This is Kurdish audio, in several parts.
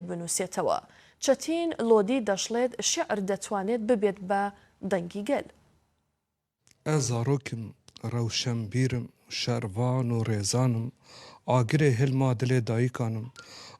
binûsêtewa. Çetîn Lodî daşlêt Şîir detwanêt bibêt be dengî gel. Ez zarok im, rewşenbîr im, şervan û rêzan im, agirê hil ma dilê dayikan im,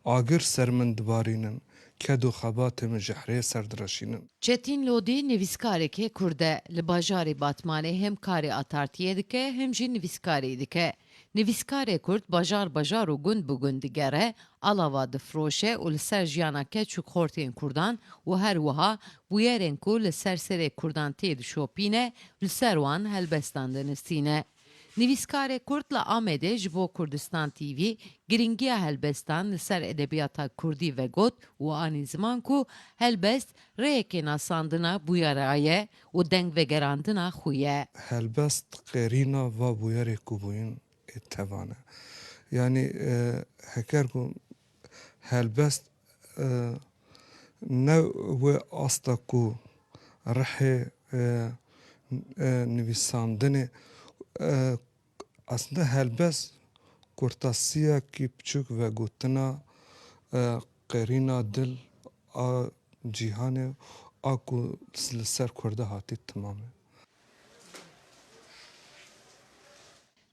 agir ser min dibarînin, ked û xebatê min ji hirê ser direşînin. Çetîn Lodî nivîskarekê kurd e. Li bajarê Batmanê hem karê atartiyê dike hem jî nivîskarî dike. Nivîskarê Kurd bajar bajar û gund bi gund digere, alava difiroşe û li ser jiyana keç û xortên Kurdan û her wiha bûyerên ku li ser serê Kurdan tê dişopîne li ser wan helbestan dinistîne. Nivîskarê Kurd li Amedê ji bo Kurdistan TV girîngiya helbestan li ser edebiyata Kurdî vegot û anî ziman ku helbest rêyekê nasandina bûyera ye û dengvegerandina xwe ye. Helbest qêrîna va bûyerê ku bûyîn ê tevan e. Yanî heker ku helbest ne wê asta ku rihê nivîsandinê Aslinde helbest kurtasiyekî piçûk vegotina qerîna dil a cîhanê a ku li ser Kurda hatî timam e.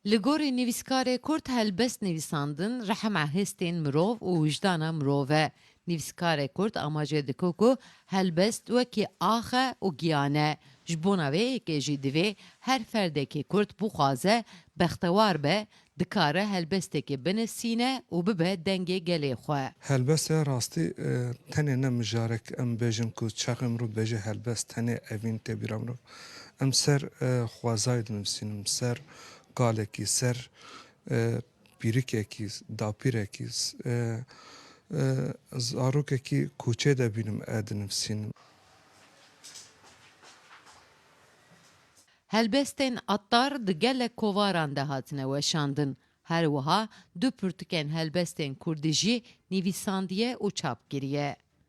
Li gorî nivîskarê kurd helbest nivîsandin rehem a hestên mirov û wijdana mirov e. Nivîskarê Kurd amacê dike ku helbest wekî ax e û giyan e. Ji bona vê yekê jî divê her ferdekî Kurd bixwaze bextewar be, dikare helbestekî binisîne û bibe dengê gelê xwe. Helbest ya rastî tenê ne mijarek em bêjin ku çaxê mirov dibêje helbest, tenê evîn tê bîra mirov. Em ser xwezayê dinivîsînin, ser kalekî, ser Pîrikekî, dapîrekî, zarokekî koçê de bînim e dinivîsînim. Helbestên Attar di gelek kovaran de hatine weşandin. Her wiha du pirtûkên helbestên kurdî jî nivîsandiye û çap kiriye.